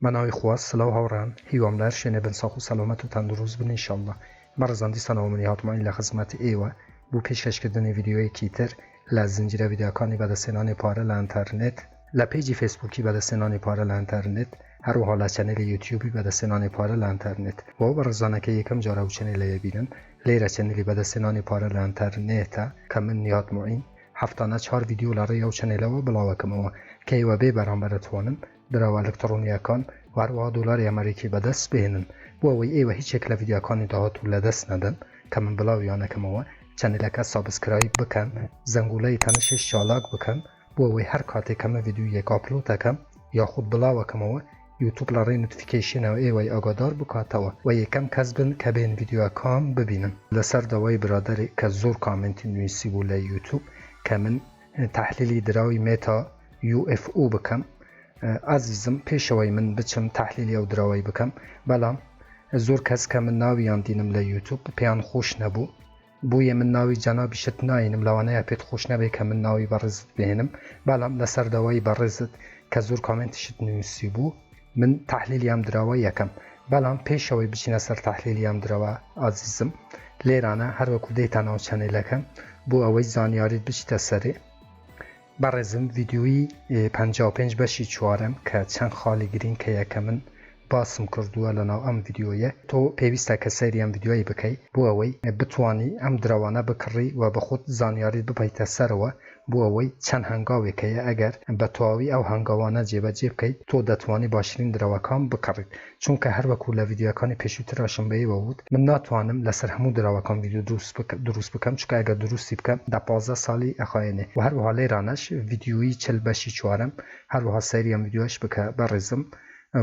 بە ناوی خوا سلاو هاوڕێان هیوام لەهەر شوێنێ بن ساخ و سەلامەت و تەندروست بن انشاللە بەڕێزان دیسان ئەوە منی هاتمایین لە خزمەت ئێوە بو پێشکەش کردنی ڤیدیۆیەکی تر لە زنجیرە ڤیدیۆکانی بەدەستهێنانی پارە لە ئەنتەرنێت لە پەیجی فەیسبوکی بەدەستهێنانی پارە لە ئەنتەرنێت هەروەها لە چەنێلی یوتیوبی بەدەستهێنانی پارە لە ئەنتەرنێت بۆ ئەو بەڕێزانە کە یەکەم جارە ئەو چەنێلە ئەبینن لێرە چەنێلی بەدەستهێنانی پارە لە ئەنتەرنێتە کە من نیهاد موعین هەفتانە چوار ڤیدیۆ لە ڕێی ئەو چەنێلەوە بڵاوەکەمەوە کە ئێوە بێ بەرامبەر ئەتوانن دراوە ئەلکتڕۆنییەکان و هەروەها دۆلاری ئەمەریکی بەدەست بهێنن، بۆ ئەوەی ئێوە هیچ یەک لە ڤیدیۆکانی داهاتوو لەدەست نەدەن کە من بڵاویان ئەکەمەوە، چەنێلەکە سابسکرایب بکەن، زەنگوڵەی تەنشیش چالاک بکەن، بۆ ئەوەی هەر کاتێک کە من ڤیدیۆیەک ئاپلۆد ئەکەم یاخود بڵاو ئەکەمەوە یوتوب لە ڕێی نۆتفیکەیشنەوە ئێوەی ئاگادار بکاتەوە و یەکەم کەس بن کە بێن ڤیدیۆکەم ببینن. لەسەر داوای برادەرێک کە زۆر کامێنتی نویسیبوو لە یوتوب کە من تەحلیلی دراوی مێتا یو ئێف ئو بکەم ئازیزم پێشەوەی من بچم تەحلیلی ئەو دراوەی بکەم بەڵام زۆر کەس کە من ناویان دینم لە یوتوب پێیان خۆش نەبوو بۆیە من ناوی جەنابیشت ناینم لەوانەیە پێت خۆش نەبێ کە من ناوی بەڕێزت بێنم بەڵام لەسەر داوای بەڕێزت کە زۆر کامنتیشت نووسی بوو من تحلیلی ئەم درەوە یەکەم بەڵام پێش ئەوەی بچینە سەر تحلیلی ئەم درەوە ئازیزم لێرانە هەروەکو دێتە ناو چەنێلەکە بۆ ئەوەی زانیاریت بچیتە سەرێ بەڕێزم ڤیدیوی 55 بەشی چوارم کە چەند خاڵی گرین کە یەکە من باسم کردووە لە ناو ئەم ڤیددیویە تۆ پێویستە کە سەیری ئەم ڤیددیوی بکەیت بۆ ئەوەی بتانی ئەم درەوانە بکڕی و بە خۆت زانیاریت بپیتە سەرەوە بۆ ئەوەی چەند هەنگاوێک هەیە ئەگەر بە تەواوی ئەو هەنگاوانە جێبەجێ بکەیت تۆ دەتوانی باشترین درەوەکان بکڕیت چونکە هەر وەکو لە ڤیدیۆیەکانی پێشووتراشم بە ئێوە ووت من ناتوانم لەسەر هەموو درەوەکان ڤیدیۆ دروست بکەم چونکە ئەگەر دروستی بکەم دە پازدە سالی ئەخایەنێ وە هەروەها لێرانەش ڤیدیۆیی چل بەشی چوارەم هەروەها سەیری ئەم ڤیدیۆیەش بکە بەڕێزم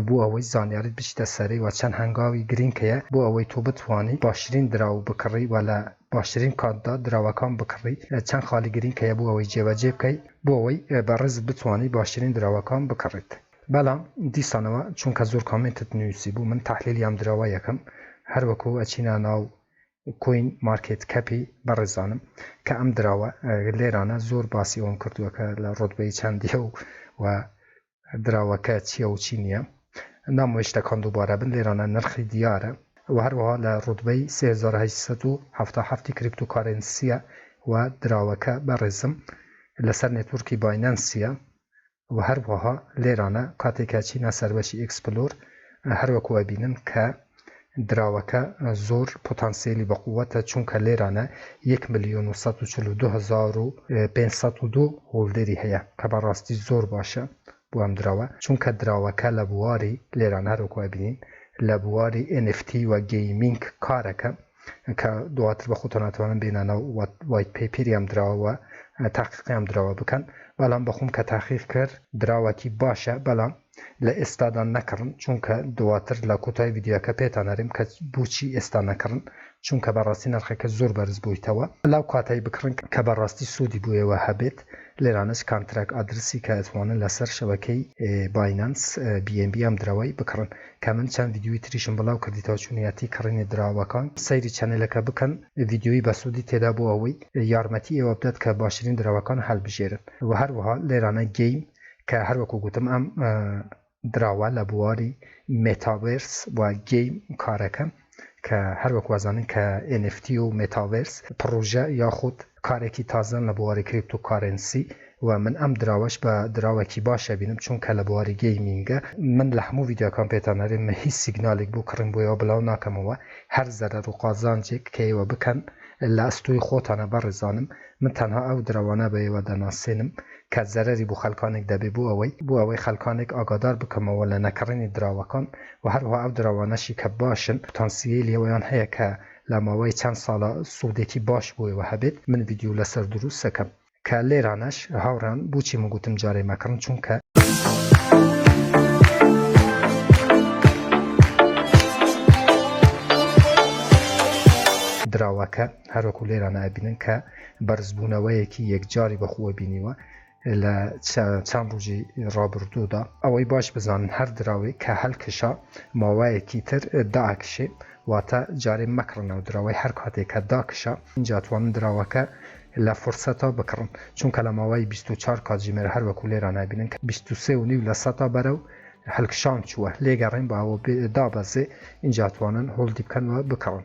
بۆ ئەوەی زانیاریت بچیتە سەرەی وە چەند هەنگاوی گرینگ هەیە بۆ ئەوەی تۆ بتوانی باشترین دراو بکڕی وە لە باشترین کاتدا دراوەکان بکڕی، چەند خاڵی گرینگ هەیە بۆ ئەوەی جێبەجێ بکەی بۆ ئەوەی بە ڕێز بتوانی باشترین دراوەکان بکڕیت بەڵام دیسانەوە چونکە زۆر کامێنتت نوسی بوو من تەحلیلی ئەم دراوە یەکەم هەر وەکو ئەچینە ناو کوین مارکێت کەپی بەڕێزانم کە ئەم دراوە لێرانە زۆر باسی ئەوەم کردوە کە لە ڕۆتبەی چەندیە و دراوەکە چیە و چی نیە نامەوێ شتەکان دووبارە بن لێرانە نرخی دیارە وە هەروەها لە ڕوتبەی سێ هەزار و هەشت سەد و حەفتا و حەفت ی کریپتۆ کارێنسیە وە دراوەکە بەڕێزم لەسەر نێتوڕکی باینەنسیە وە هەروەها لێرانە کاتێ کە چینە سەر بەشی ئێکسپلۆر هەر وەکو ئەبینن کە دراوەکە زۆر پۆتانسیەلی بەقوەتە چونکە لێرانە یەک ملیۆن و سەد و چل و دوو هەزار و پێنج سەد و دوو هۆڵدەری هەیە کە بەڕاستی زۆر باشە بۆ ئەم دراوە چونکە دراوەکە لە بواری لێران هەروەکو ئەبینین لە بواری ئێن ئێف تی و گەیمینگ کارەکە کە دواتر بە خۆتان ناتوانن بێنە ناو وایت پەیپیری ئەم دراوە و تاقیقی ئەم دراوە بکەن بەڵام بەخۆم کە تاقیق کرد دراوەکی باشە بەڵام لە ئێستادا نەکڕن چونکە دواتر لە کۆتای ڤیدیۆکە پێتان ئەرێم کە بوچی ئێستا نەکڕن چونکە بەڕاستی نرخەکە زۆر بەرز بویتەوە لاو کاتەی بکڕن کە بەڕاستی سودی بۆ ئێوە هەبێت لێرانەش کانتراک ئادرسی کە ئەتوانن لەسەر شەبەکەی باینانس بی ئێن بی ئەم دراوەی بکڕن کە من چەند ڤیدیۆی تریشم بڵاو کردیتەوە چونیاتی کڕینی دراوەکان سەیری چەنێلەکە بکەن ڤیدیۆی بەسودی تێدا بۆ ئەوەی یارمەتی ئێوە بدات کە باشرین دراوەکان هەلبژێرن وە هەروەها لێرانە گەیم کە هەروەکو گوتم ئەم دراوە لە بواری مێتاڤێرس و گەیم کارەکەن کە هەروەک وازانن کە NFT و مێتاڤێرس پڕۆژە یاخود کارێکی تازەن لە بواری کریپتو کارێنسی و من ئەم دراوەش بە دراوەکی باشە بینم چونکە لە بواری گەیمینگە من لە هەموو ڤیدیۆکان پێتان ئەرێم من هیچ سیگنالێک بۆ کڕین بۆ ئێوە بڵاو ناکەمەوە هەر زەرەر و قازانجێک کە ئێوە بکەن لە ئەستۆی خۆتانە بەڕێزانم من تەنها ئەو درەوانە بەوە دەناسێنم کە زەرەری بۆ خەلکانێک دەبێت بۆ ئەوەی بۆ ئەوەی خەلکانێک ئاگادار بکەمەوە لە نەکڕینی دراوەکان و هەروەها ئەو دراوانەشی کە باشن پتانسییەیلی ئەوەیان هەیە کە لە ماوەی چەند سالا سودێکی باش بۆ ئێوە هەبێت من ڤیدیۆ لەسەر دروست سەکەم کە لێرانەش هاوڕێان بۆچی من گوتم جارێ مەکڕن چونکە دراوەکە. هەروەکو لێران ئابینن کە بەرزبوونەوەیەکی یەکجاری بەخووە بینیوە لە چەند ڕژی ڕابردوودا ئەوەی باش بزانن هەر دراوێک کە هەلکشا ماوایەکی تر داکشێ واتە جارێ مەکڕن ناو دراوەی هەر کاتێک کە داکشا جاتوانن دراوەکە لە فرسەتا بکڕن چونکە لە ماوەی 24 کاتژمێر هەروەکو لێران ئابینن کە 23 و نیو لە سەتا بەرەو هەلکشان چووە لێگەڕێن باوە دابەزێ ئینجاتوانن هۆڵدی بکەنەوە بکڕن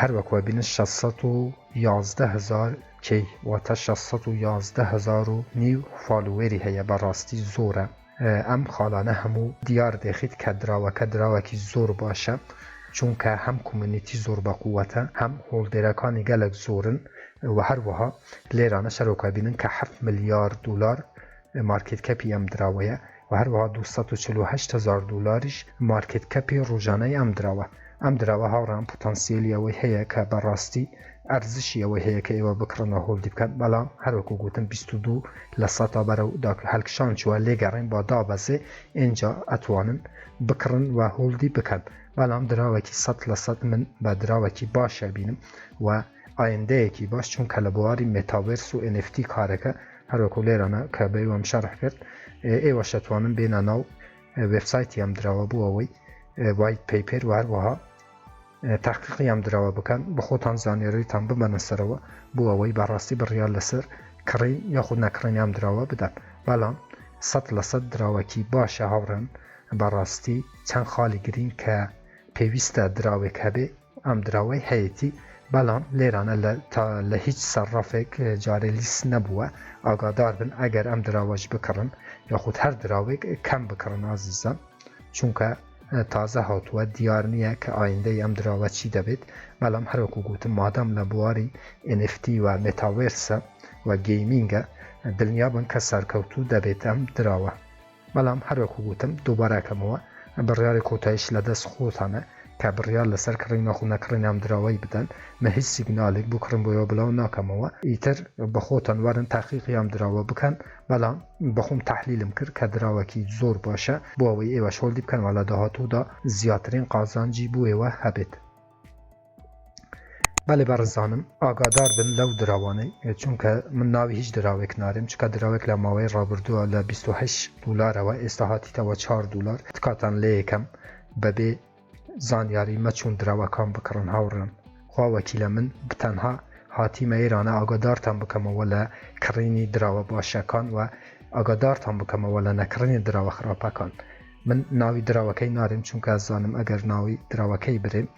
هەر وەک وە بینن شەش سەد و یازدە هەزار کەی واتە شەش سەد و یازدە هەزار و نیو فالوێری هەیە بە ڕاستی زۆرە ئەم خاڵانە هەموو دیار دێخیت کە دراوەکە دراوەکی زۆر باشە چونکە هەم کومنیتی زۆر بە قووەتە هەم هۆڵدێرەکانی گەلەک زۆرن و هەروەها لێرانە شەرۆکە بینن کە حەفت ملیار دولار مارکێت کەپی ئەم دراوەیە و هەروەها دوو سەد و چل و هەشت هەزار دۆلاریش مارکێت کەپی ڕۆژانەی ئەم دراوە ئەم دراوە هاوڕان پوتانسیلی ئەوەی هەیە کە بەڕاستی ئەرزشی ئەوەی هەیە کە ئێوە بکڕنەوە هۆڵدی بکەن بەڵام هەروەکو گوتم 22 لە سەتا بەرە و داک هەلکشان چووە لێگەڕین با دابەزێ ئێنجا ئەتوانن بکڕن و هۆڵدی بکەن بەڵام دراوەکی سە لە سە من بە دراوەکی باشە بینم و ئایندەیەکی باش چونکە لە بواری مێتاڤێرس و NFT کارەکە هەروەکو لێرانە کە بەیوام شەرح کرد ئێوەش دەتوانن بێنە ناو وێبسایتی ئەم دراوە بۆ ئەوەی وایت پەیپێر و هەروەها تاقیقی ئەم دراوە بکەن بە خۆتان زانیاریتان بمەنە سەرەوە بۆ ئەوەی بەڕاستی بڕیار لەسەر کڕین یاخود نەکڕین ئەم دراوە بدەن بەڵام سەد لە سەد دراوەکی باشە هاوڕێن بەڕاستی چەند خاڵی گرین کە پێویستە دراوێک هەبێ ئەم دراوەی هەیەتی بەڵام لێرانە لە تا لە هیچ سەرڕەفێک جارێ لیست نەبووە ئاگادار بن ئەگەر ئەم دراوەش بکڕن یاخود هەر دراوێک کەم بکڕن ئازیزان چونکە تازە هاتووە دیار نییە کە ئایندەی ئەم دراوە چی دەبێت بەڵام هەروەکو گوتم مادام لە بواری NFT و مێتاوێرسە و گەیمینگە دڵنیا بن کە سەرکەوتوو دەبێت ئەم دراوە بەڵام هەر وەکو گوتم دووبارە ئەکەمەوە بڕیاری کۆتاییش لە دەست خۆتانە کە بڕیار لەسەر کڕین یاخو نەکڕین ئەم دراوەی بدەن من هیچ سیگنالێک بۆ کڕین بۆیەوە بڵاو ناکەمەوە ئیتر بە خۆتان وەرن تاقیقی ئەم دراوە بکەن بەڵام بە خۆم تحلیلم کرد کە دراوەکی زۆر باشە بۆ ئەوەی ئێوەش هۆڵدی بکەن وە لە داهاتوودا زیاترین قازانجی بۆ ئێوە هەبێت. بەێ بەڕزانم ئاگادار بن لەو دراوانەی چونکە من ناوی هیچ دراوێک نارێم چکە دراوێک لە ماوەی ڕابردووە لە 28 دلارەوە ئێستا هاتیتەوە 4 دلار تکاتان لە یەکەم بەبێ زانیاری مەچون دراوەکان بکڕن هاوڕێن خوا وەکیلە من بتەنها هاتیمە ئێرانە ئاگادارتان بکەمەوە لە کڕینی دراوە باشەکان و ئاگادارتان بکەمەوە لە نەکڕنی دراوە خراپەکان من ناوی دراوەکەی نارێم چونکە ئەزانم ئەگەر ناوی دراوەکەی برێم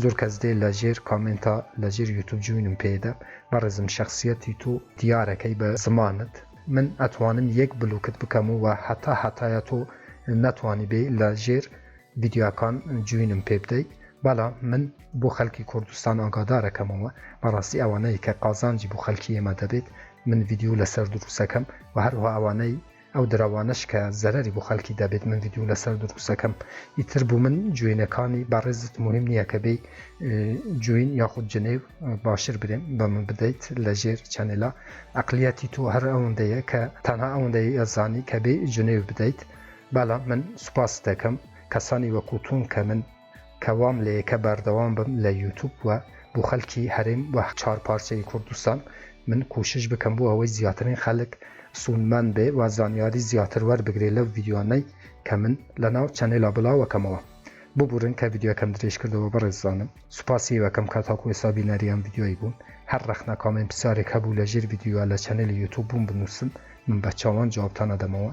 زۆر کەس دێ لە ژێر کامێنتا لە ژێر یوتوب جوینم پێدە بەڕێزم شەخسیەتی تۆ دیارەکەی بە زمانت من ئەتوانم یەک بلوکت بکەم و هەتا هەتایە تۆ نەتوانیبێی لە ژێر ڤیدیۆکان جوینم پێ بدەی بەڵام من بۆ خەلکی کوردستان ئاگادارەکەمەوە بەڕاستی ئەوانەی کە قازانجی بۆ خەلکی ئێمە دەبێت من ڤیدیۆ لەسەر دروستەکەم و هەروها ئەوانەی ئەو دراوانەش کە زەرەری بۆ خەلکی دەبێت من ڤیدیو لەسەر دروست دەکەم ئیتر بوو من جوێنەکانی بەڕێزت مهم نییە کە بێ جوین یاخود جنێو باشر برێم بە من بدەیت لە ژێر چەنێلا ئەقلیەتی تۆ هەر ئەوەندەیە کە تەنها ئەوەندەی ئەزانی کە بێ جنێو بدەیت بەڵام من سوپاس دەکەم کەسانی وەکوتون کە من کە وام لێیە کە بەردەوام بم لە یوتوب و بۆ خەلکی هەرێم و چار پارچەی کوردستان من کوشش بکەم بۆ ئەوەی زیاترین خەلک سوودمەند بێ و زانیاری زیاتر وەربگرێ لەو ڤیدیۆانەی کە من لەناو چەنێلا بڵاوەکەمەوە ببورن کە ڤیدیۆکەم درێژ کردەوە بەڕێزانم سوپاسی وەکەم کە تاکو ئێستا بینەری ئەم ڤیدیۆی بوون هەر ڕەخنە کامێن پسارێک هەبوو لە ژێر ڤیدیۆ لە چەنێلی یوتوب بووم بنووسن من بە چاوان جوابتان ئەدەمەوە